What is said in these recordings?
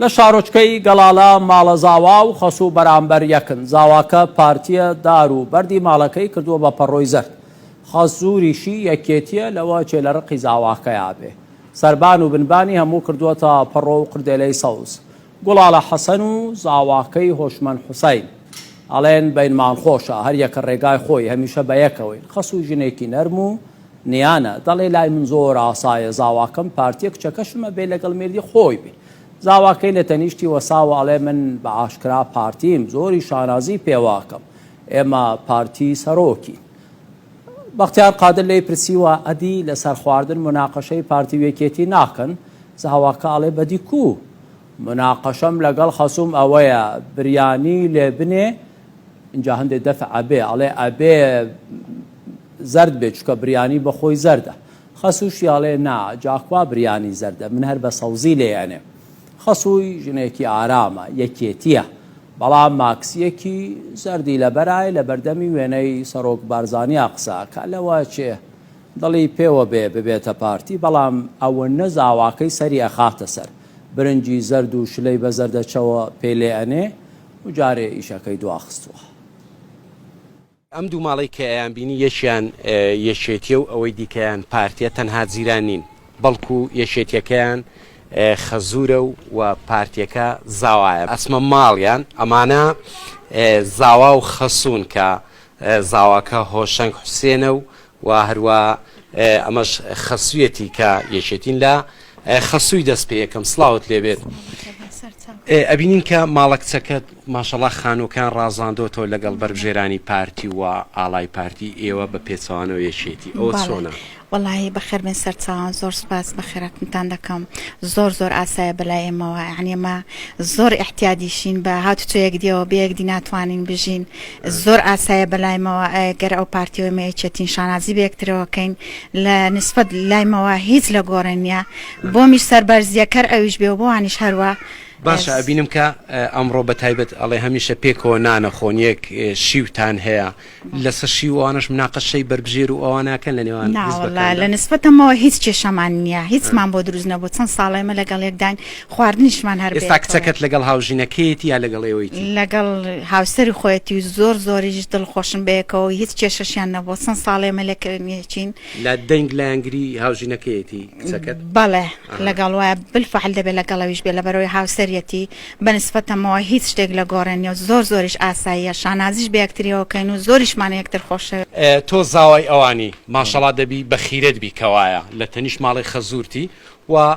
لە شارۆچکەی گەڵالە ماڵە زاوا و خەسوو بەرامبەر یەکن زاواکە پارتیە دار و بەردی ماڵەکەی کردووە بە پەڕۆی زەرد خەزووریشی یەکێتیە لەوە چێ لە ڕقی زاواکەیا بێ سەربان و بنبانی هەموو کردووەتە پەڕۆ و قردێلەی سەوز گوڵاڵە حەسەن و زاواکەی هۆشمەند حوسین ئەڵێن بەینمان خۆشە هەر یەکە ڕێگای خۆی هەمیشە بە یەکەوەین خەسوو ژنێکی نەرم و نیانە دەڵێ لای من زۆر ئاسایە زاواکەم پارتیە کچەکەشم ئەبێ لەگەڵ مێردی خۆی بێ زاواکەی لە تەنیشتی وەساوە ئەڵێ من بە ئاشکرا پارتیم زۆری شانازی پێواکەم ئێمە پارتی سەرۆکین بەختیار قادر لێی پرسیوە ئەدی لەسەر خواردن مناقەشەی پارتی و یەکێتی ناکەن زاواکە ئەڵێ بەدی کو مناقەشەم لەگەڵ خەسوم ئەوەیە بریانی لێ بنێ اینجا هەندێک دەفع ئەبێ ئەڵێ ئەبێ زەرد بێ چکە بریانی بە خۆی زەردە خەسووشی ئەڵێ نا جا کوا بریانی زەردە من هەر بە سەوزی لێ ئەنێم خەسووی ژنێکی ئارامە یەکێتیە بەڵام ماکسیەکی زەردی لەبەرای لە بەردەمی وێنەی سەرۆک بارزانیا قسە کە لەوە چێ دڵی پێوە بێ ببێتە پارتی بەڵام ئەوە نە زاواکەی سەری ئەخاتە سەر برنجی زەرد و شلەی بە زەردەچەوە پێ لێ ئەنێ و جارێ ئیشەکەی دواخستووە. ئەم دوو ماڵەی کە ئەیان بینی یەکیان یەکێتیە و ئەوەی دیکەیان پارتیە تەنها جیران نین بەڵکو یەکێتیەکەیان خەزورە و و پارتیەکە زاوایە ئەچمە ماڵیان ئەمانە زاوا و خەسون کە زاواکە هۆشەنگ حوسێنە و و هەروا ئەمەش خەسویەتی کە یەکێتین لە خەسوی دەست پێ یەکەم سلاوت لێبێت ئەبینین کە ماڵە کچەکەت ماشەڵا خانووکان ڕازاندۆتەوە لەگەڵ بەربژێرانی پارتی و ئالای پارتی ئێوە بە پێچوانەوە یەکێتی ئەوە چۆنە وڵی بەخێربێن سەرچوان زۆر سپاس بەخێراتتان دەکەم زۆر زۆر ئاسایە بەلای ئێمەوە عنیمە زۆر احتیادیشین بە هاتوچۆ یەکدیەوە بەیەکدی ناتوانین بژین زۆر ئاسایە بەلایمەوە گەر ئەو پارتیەوەی مەیەچێتین شانازی بەکترەوەکەین لە نسبەت لایمەوە هیچ لە گۆڕێن نیە بۆمیش سەربەرزیەکەر ئەویش بێ بۆوانیش هەروە باشە ئەبینم کە ئەمڕۆ بە تایبەت ئەڵێ هەمیشە پێکەوە نانە خۆن یەک شیوتان هەیە لەسەر شیوانش مناقەشەی بەربژێر و ئەوانەکەن لە نێوان لە نسبەتەمەوە هیچ کێشەمان نییە هیچمان بۆ دروست نەبوو چەند ساڵێمە لەگەڵ یەکداین خواردنیشمان هەر بێت. ئێستا کچەکەت لەگەڵ هاوژینەکەیەتی یا لەگەڵ ئێوەیتی؟ لەگەڵ هاوسەری خۆیەتی و زۆر زۆریش دڵخۆشن بەیەکەوە و هیچ کێشەشیان نەبووە، چەند ساڵێ ئێمە لەکەوێنیەتین. لە دەنگ لایەنگری هاوژینەکەیەتی کچەکەت؟ بەڵێ لەگەڵ وایە بالفعل دەبێ لەگەڵەویش بێ لەبەرئەوەی هاوسەریەتی، بە نیسبەتەمەوە هیچ شتێک لە گۆڕێ نیە و زۆر زۆریش ئاساییە، شانازیش بە یەکتریەوە کەین و زۆریشمان یەکتر خۆشەوێ. تۆ زاوای ئەوانی ماشەڵا دەبی بەخیرەت بی کەوایە لە تەنیشت ماڵی خەزوورتی و.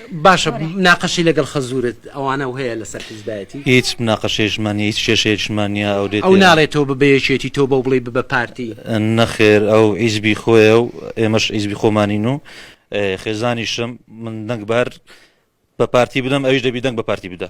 باشە مناقەشەی لەگەڵ خەزورت ئەوانە و هەیە لەسەر حیزبایەتی؟ هیچ مناقەشەیشمان نیە هیچ کێشەیەکشمان نیە ئەو دێت ئەو ناڵێت تۆ ببە یەکێتی تۆ بەو بڵێی ببە پارتی. نەخێر ئەو حیزبی خۆیە و ئێمەش حیزبی خۆمانین و خێزانیشم من دەنگ بەر بە پارتی بدەم ئەویش دەبی دەنگ بە پارتی بدە.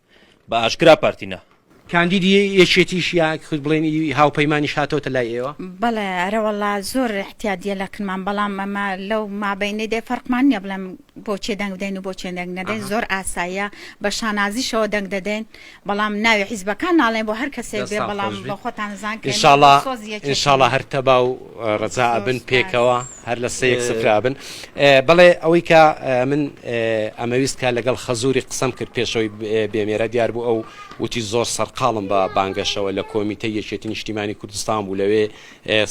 بە ئاشکرا پارتی نا. کاندیدی یەکێتیش یا خود بڵێن ئی هاوپەیمانیش هاتۆتە لای ئێوە؟ بەڵێ ئەرەوەڵا زۆر احتیادیە لە کنمان بەڵام ئەمە لەو مابەینەی دێ فەرقمان نیە بڵێم بۆچێ دەنگ بدەین و بۆچێ دەنگ نەدەین زۆر ئاساییە بە شانازیشەوە دەنگ دەدەین بەڵام ناوی حیزبەکان ناڵێن بۆ هەر کەسێک بێ بەڵام بۆ خۆتان زان ان شاء اللە ان شاء اللە هەر تەبا و ڕەزا ئەبن پێکەوە هەر لە سەیەک سفرابن بەڵێ ئەوەی کە من ئەمەویست کە لەگەڵ خەزوری قسەم کرد پێشەوەی بێمێرە دیار بوو ئەو وتی زۆر سەرقاڵم بە بانگەشەوە لە کۆمیتە یەکێتی نیشتیمانی کوردستان بوو لەوێ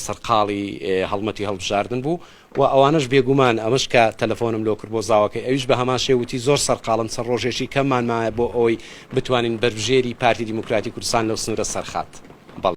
سەرقاڵی هەڵمەتی هەڵبژاردن بوو و ئەوانش بێگومان ئەمەش کە تەلەفۆنم لۆ کرد بۆ زاوەکەی ئەویش بە هەمان شێوتی زۆر سەرقاڵم سەر ڕۆژێکی کەمانمایە بۆ ئەوەی بتوانین بەربژێری پارتی دیموکراتی کوردستان لەو سنوورە سەرخات بەڵێ